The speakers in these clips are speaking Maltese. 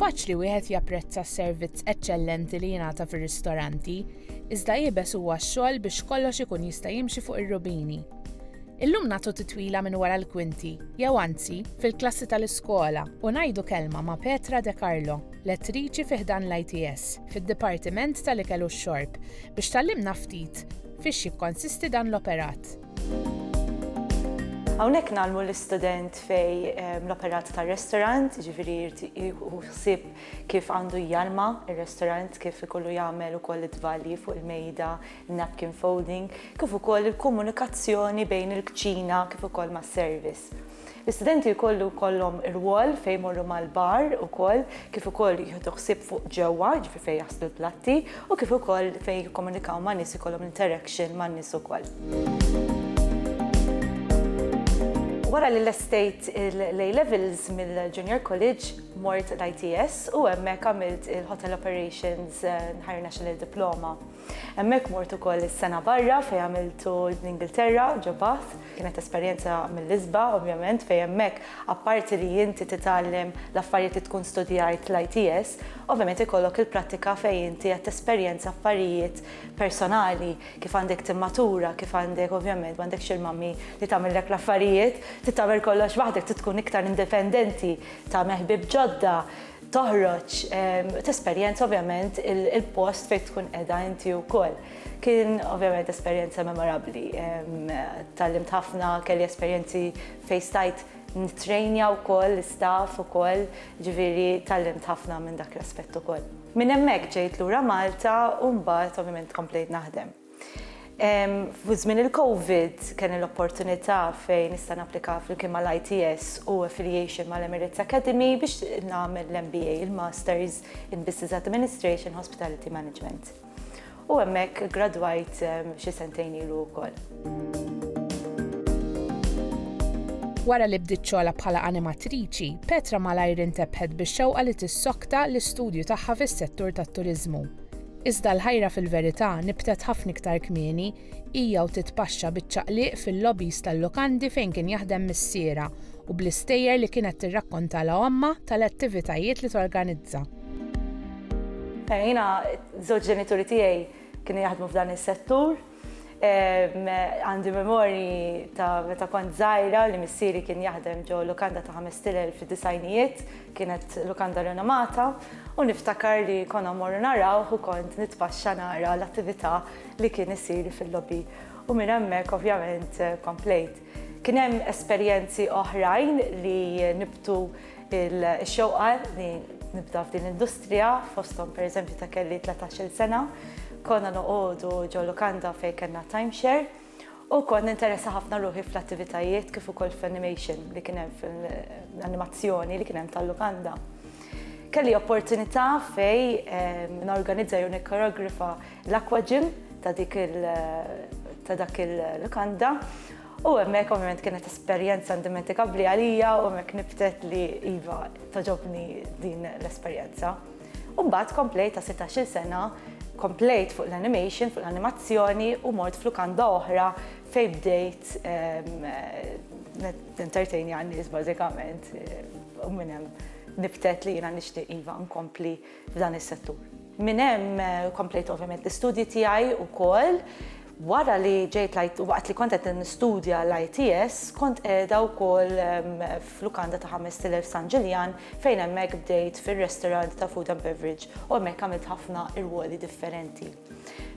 Faċli wieħed japprezza s-servizz eċċellenti li jingħata fir-ristoranti, iżda iebes huwa x-xogħol biex kollox ikun jista' jimxi fuq ir-rubini. Illum nagħtu titwila minn wara l-kwinti, jew anzi, fil-klassi tal-iskola u ngħidu kelma ma' Petra De Carlo, lettriċi fi ħdan l-ITS, fid-Dipartiment tal-Ikel u x-Xorb, biex tgħallimna ftit Fiex jikkonsisti dan l-operat? Hawnhekk ngħallmu l-istudent fej ehm, l-operat tar-restorant, jiġifieri jieħu ħsieb kif għandu jgħalma r restorant kif ikollu jagħmel ukoll id-dvalji fuq il-mejda, napkin folding, kif ukoll il-komunikazzjoni bejn il-kċina kif ukoll mas-service. L-istudenti jkollu jkollhom rwol fejn jmorru mal-bar ukoll, kif ukoll jieħdu ħsieb fuq ġewwa, jiġifieri fejn jaħslu l-platti, u kif ukoll fejn jikkomunikaw ma' nies ikollhom interaction ma' nies ukoll. Wara li lestejt l-A-Levels mill-Junior College, mort l-ITS u hemmhekk għamilt il-Hotel Operations Higher National Diploma. Hemmhekk mort ukoll is-sena barra fejn għamiltu l-Ingilterra ġo Bath. Kienet esperjenza mill-isba, ovvjament, fejn hemmhekk apparti li inti titgħallem l-affarijiet li tkun studjajt l-ITS, ovvjament ikollok il-prattika fejn inti qed tesperjenza affarijiet personali, kif għandek timmatura, kif għandek ovvjament m'għandekx il-mummy li tagħmillek l-affarijiet, trid tagħmel kollox waħdek, trid tkun iktar indipendenti, tagħmel ħbieb ġodda, toħroġ, tesperjenza ovvjament il-post fejn tkun qiegħda inti wkoll. Kien ovvjament esperjenza memorabbli. Tallimt ħafna, kelli esperjenzi fejn stajt nitrejnja wkoll l-istaff ukoll, ġifieri tallimt ħafna minn dak l-aspett ukoll. Minn hemmhekk ġejt lura Malta u mbagħad ovvjament komplejt naħdem. Fi żmien il-Covid kelli l-opportunità fejn nista' napplika flimkien mal-ITS u affiliation mal-Emirates Academy biex nagħmel l-MBA, il-Masters in Business Administration, Hospitality Management. U hemmhekk iggradwajt xi sentejn ilu wkoll. Wara li bdiet xogħolha bħala animatriċi, Petra malajr intebħet bix-xewqa li tissokta l-istudju tagħha fis-settur tat-turiżmu. Iżda l-ħajra fil-verità nibtet ħafna iktar kmieni, hija u titpaxxa biċ-ċaqliq fil-lobbies tal-lukandi fejn kien jaħdem missierha u bl-istejjer li kienet tirrakkontalha ommha tal-attivitajiet li torganizza. Jiena, iż-żewġ ġenituri tiegħi kienu jaħdmu f'dan is-settur. Għandi memori ta' meta kont zaħira li missieri kien jaħdem ġo lukanda ta' ħamestilel fi disajnijiet, kienet lukanda renomata, u niftakar li konna morru narawh u kont nitpaxxa nara l-attivita li kien isir fil-lobby. U minn hemmhekk ovvjament komplejt. Kien hemm esperjenzi oħrajn li nibtu x-xewqa li nibda f'din l-industrija, fosthom pereżempju ta' kelli tlatax-il sena, konna noqogħdu ġol-lukanda fejn kellna timeshare u kont ninteressa ħafna ruħi fl-attivitajiet kif ukoll fl-animation li kien hemm fl-animazzjoni li kien hemm tal-lukanda. Kelli opportunità fejn norganizza jew nikkoreografa l-aquagym ta' dik il ta' dak il-lukanda u hemmhekk ovvjament kienet esperjenza indimentikabbli għalija u hemmhekk nibtet li iva toġobni din l-esperjenza. U mbagħad komplejt ta' 16-il sena komplejt fuq l-animation, fuq l-animazzjoni u mort f'lukanda oħra fejn bdejt entertain għan-nies bażikament u minn hemm nibtet li jiena nixtieq iva nkompli f'dan is-settur. Minn hemm komplejt ovvjament l-istudji tiegħi wkoll. Wara li ġejt lajt waqt li kont qed nistudja l-ITS, kont qiegħda wkoll f'lukanda ta' Ħames Tilel San Ġiljan fejn hemmhekk bdejt fir-restaurant ta' food and beverage u hemmhekk għamilt ħafna irwoli differenti.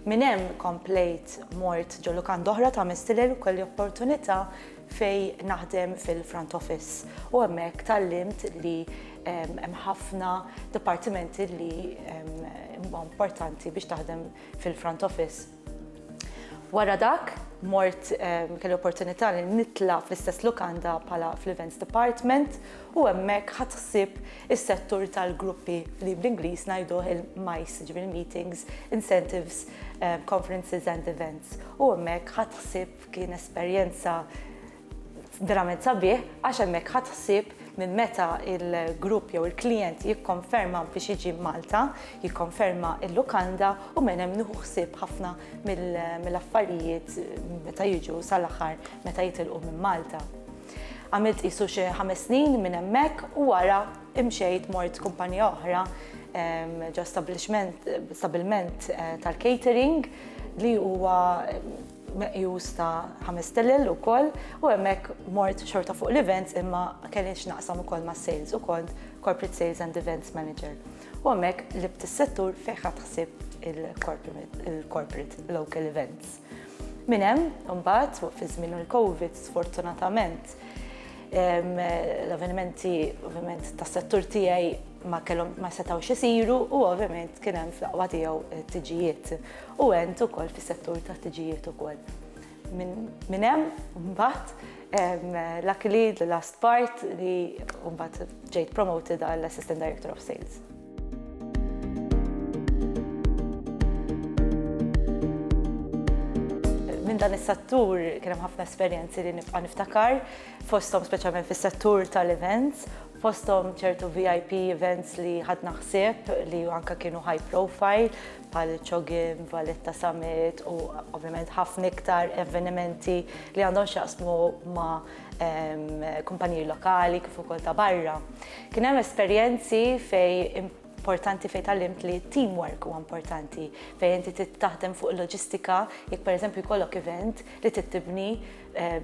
Minn hemm komplejt mort ġo lukanda oħra ta' Ħames Tilel u kelli opportunità fejn naħdem fil-front office u hemmhekk tgħallimt li hemm ħafna dipartimenti li huma importanti biex taħdem fil-front office. Wara dak, mort kelli opportunità li nitla' fl-istess lukanda bħala fl-events department u hemmhekk ħadd ħsieb is-settur tal-gruppi li bl-Ingliż ngħiduh il-MICE, ġifieri meetings, incentives, conferences and events u hemmhekk ħadd ħsieb Kien esperjenza verament sabiħ għax hemmhekk ħadt ħsieb minn meta il-grupp jew il-klijent jikkonferma biex jiġi Malta, jikkonferma il-lukanda u minn hemm nieħu ħsieb ħafna mill-affarijiet meta jiġu sal-aħħar meta jitilqu minn Malta. Għamilt qisu xi ħames snin minn hemmhekk u wara imxejt mort kumpanija oħra ġo stabilment tal-catering li huwa meqjus ta' ħames stilel ukoll u hemmhekk mort xorta fuq l-events imma kelli x'naqsam ukoll mas-sales u kont Corporate Sales and Events Manager. U hemmhekk libt is-settur fejn ħadt ħsieb il-corporate local events. Minn hemm, imbagħad, fi żmien il-COVID, sfortunatament, l-avvenimenti ovvjament tas-settur tiegħi ma setgħux isiru u ovvjament kien hemm fl-aqwa tiegħu t-tiġijiet. u għent ukoll fis-settur tal-ħtiġijiet ukoll. Minn hemm mbagħad luckily the last part li mbagħad ġejt promoted għal Assistant Director of Sales. Minn dan is-settur kien hemm ħafna esperjenzi li nibqa' niftakar fosthom speċjalment fis-settur tal-events, fosthom ċertu VIP events li ħadna ħsieb li anke kienu high profile, bħal Chogim, Valletta Summit u ovvjament ħafna iktar avvenimenti li għandhom x'jaqsmu ma' kumpaniji lokali kif ukoll ta' barra. Kien hemm esperjenzi fejn importanti fejn tallimt li teamwork huwa importanti fejn inti taħdem fuq loġistika jekk pereżempju jkollok event li tittibni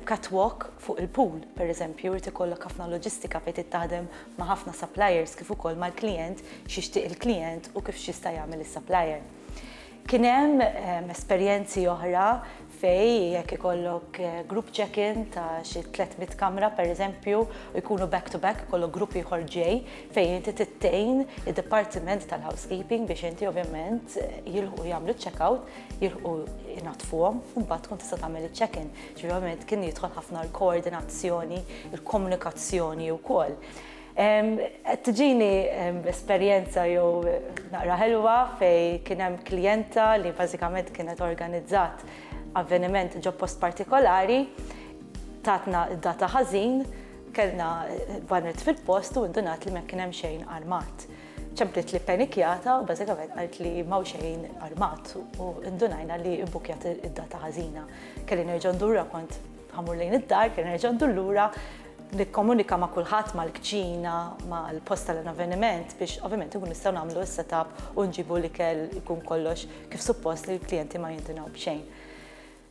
catwalk fuq il-pool, pereżempju, irid ikollok ħafna loġistika fejn trid taħdem ma' ħafna suppliers kif ukoll mal-klijent, x'jixtieq il-klijent u kif x'jista' jagħmel is-supplier. Kien hemm esperjenzi oħra fejn jekk ikollok group check-in ta' xi 300 kamra, pereżempju, u jkunu back to back, ikollok grupp ieħor ġej, fejn inti trid tgħin id-dipartiment tal-housekeeping biex inti ovvjament jilħqu jagħmlu ċ-checkout, jilħqu jnaddfuhom, u mbagħad tkun tista' tagħmel iċ-check-in. Ġifieri ovvjament kien jidħol ħafna l-koordinazzjoni, il-komunikazzjoni wkoll. Qed tiġini esperjenza jew naqra ħelwa fejn kien hemm klijenta li bażikament kienet organizzat avveniment ġo post partikolari, tatna d-data ħażin, kellna bannet fil-post u ndunat li ma kien hemm xejn armat. Ċemplet li ppenikjata u bażikament qalt li m'hawn xejn armat u ndunajna li bbukkjat id-data ħażina. Kelli nerġa' ndur lura kont ħammur lejn id-dar, kelli nerġa' ndur lura, nikkomunika ma' kulħadd mal-kċina, mal-post tal-avveniment biex ovvjament inkunu nistgħu nagħmlu s-setup u nġibu l-ikel ikun kollox kif suppost li l-klijenti ma jindunaw b'xejn.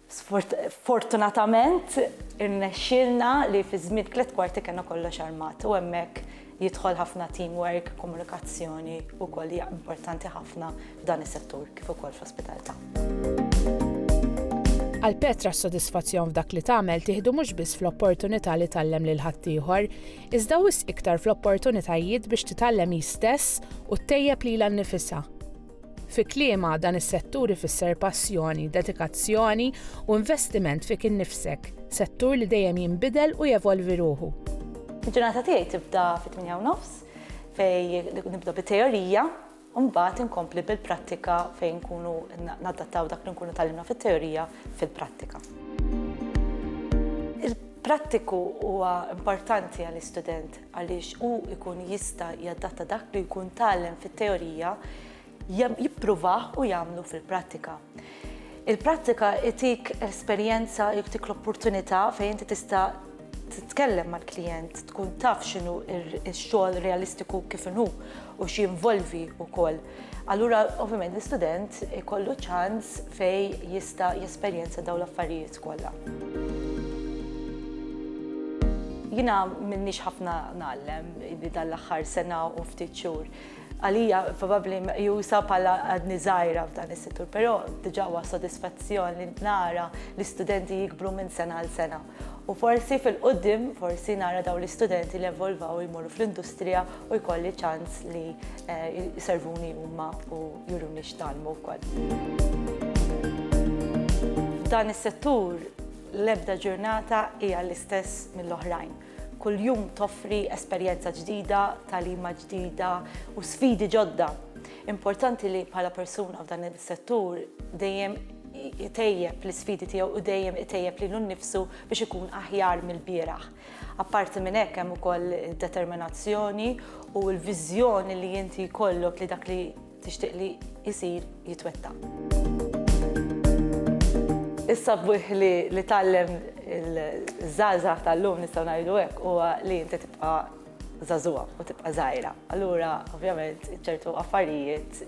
Sfortunatament irnexxielna li fi żmien tliet kwarti kellna kollox armat u hemmhekk jidħol ħafna teamwork, komunikazzjoni wkoll hija importanti ħafna f'dan is-settur kif ukoll fl-ospitaltà. Għal Petra s-sodisfazzjon f'dak li tagħmel tieħdu mhux biss fl-opportunità li tgħallem lil ħaddieħor, iżda wisq iktar fl-opportunitajiet biex titgħallem hi stess u ttejjeb lilha nnifisha. Fi kliemha, dan is-settur ifisser passjoni, dedikazzjoni u investiment fik innifsek, settur li dejjem jinbidel u jevolvi ruħu. Il-ġurnata tiegħi tibda fit-tmienja u nofs fejn nibda bit-teorija u mbagħad inkompli bil-prattika fejn nkunu nadattaw dak li nkunu tgħallimna fit-teorija fil-prattika. Il-prattiku huwa importanti għall-istudent għaliex hu jkun jista' jadatta dak li jkun tgħallem fit-teorija jippruvah u jagħmlu fil-prattika. Il-prattika itik esperjenza, jtik l-opportunità fejn inti tista' titkellem mal-klijent, tkun taf x'inhu x-xogħol realistiku kif inhu u x'jinvolvi wkoll. Allura, ovvjament, l-istudent ikollu ċans fej jista' jesperjenza daw l-affarijiet kollha. Jina minnix ħafna nallem li dal-axħar sena u ftit xhur. Għalija probabli jusa pala għadni zaħira f'dan is-settur, pero diġa huwa sodisfazzjon li nara l-istudenti jikbru minn sena għal sena. U forsi fil-quddiem, forsi nara dawn l-istudenti li evolvaw u jmorru fl-industrija u jkolli ċans li jservuni huma u juruni x'tgħallmu wkoll. F'dan is-settur l-ebda ġurnata hija l-istess mill-oħrajn. Kuljum toffri esperjenza ġdida, tagħlima ġdida u sfidi ġodda. Importanti li bħala persuna f'dan is-settur dejjem itejjeb l-isfidi tiegħu u dejjem itejjeb lilu nnifsu biex ikun aħjar mill-bieraħ. Apparti minn hekk hemm ukoll id-determinazzjoni u l-viżjoni li inti jkollok li dak li tixtieq li jsir jitwettaq. Is-sabiħ li tgħallem iż-żgħażagħ tal-lum nistgħu ngħidu hekk huwa li inti tibqa' żagħżugħa u tibqa' żgħira. Allura, ovvjament, ċertu affarijiet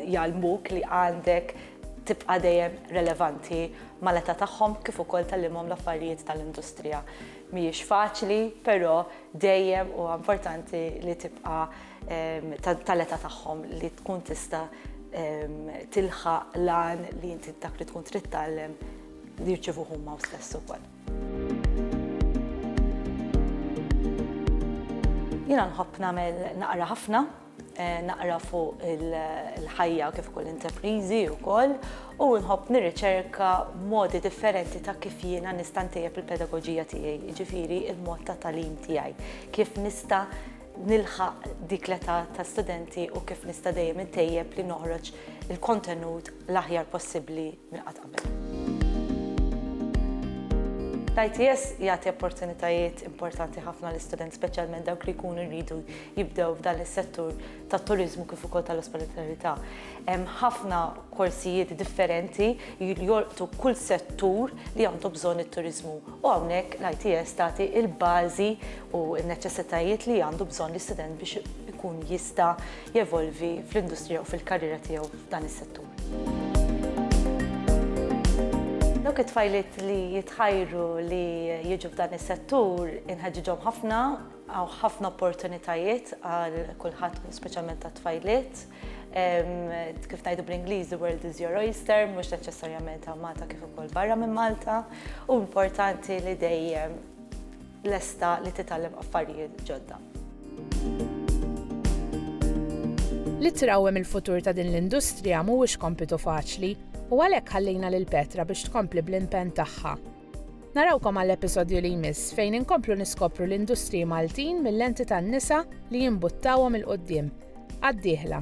jgħallmuk li għandek tibqa' dejjem relevanti mal-età tagħhom kif ukoll tgħallimhom l-affarijiet tal-industrija. Mhijiex faċli, però dejjem huwa importanti li tibqa' tal-età tagħhom li tkun tista' tilħaq l-għan li inti dak li tkun trid tgħallem li jirċievuh huma stess ukoll. Jiena nħobb nagħmel naqra ħafna, eh, naqra fuq il-ħajja kif ukoll interprizi wkoll u nħobb nirriċerka modi differenti ta' kif jiena nista' ntejjeb il-pedagogija tiegħi, jiġifieri il-mod ta' talim tiegħi, kif nista' nilħaq dik l-età ta' studenti u kif nista' dejjem intejjeb li noħroġ il-kontenut l-aħjar possibbli minn qatt qabel. L-ITS jagħti opportunitajiet importanti ħafna l-istudent, speċjalment dawk li jkunu jridu jibdew f'dan is-settur tat-turiżmu kif ukoll tal-ospitalità. Hemm ħafna korsijiet differenti li jolqtu kull settur li għandu bżonn it-turiżmu. U hawnhekk l-ITS tagħti il-bażi u n-neċessitajiet li għandu bżonn l-istudent biex ikun jista' jevolvi fl-industrija u fil-karriera tiegħu f'dan is-settur. Dawk it-tfajliet li jitħajru li jiġu f'dan is-settur inħeġġiġhom ħafna, hawn ħafna opportunitajiet għal kulħadd u speċjalment għat-tfajliet. Kif ngħidu bl-Ingliż, the world is your oyster, mhux neċessarjament hawn Malta kif ukoll barra minn Malta, u importanti li dejjem lesta li titgħallem affarijiet ġodda. Li trawwem il-futur ta' din l-industrija mhuwiex kompitu faċli u għalhekk ħallejna lil Petra biex tkompli bl-impenn tagħha. Narawkom għall-episodju li jmiss fejn inkomplu niskopru l-industriji Maltin mil-lenti tan-nisa li jimbuttawhom 'il quddiem. Għad-dieħla!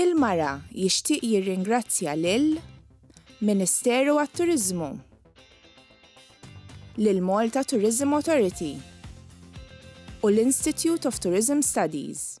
Il-Mara jixtieq jirringrazzja lil Ministeru għat-Turiżmu, lill-Malta Tourism Authority u l-Institute of Tourism Studies.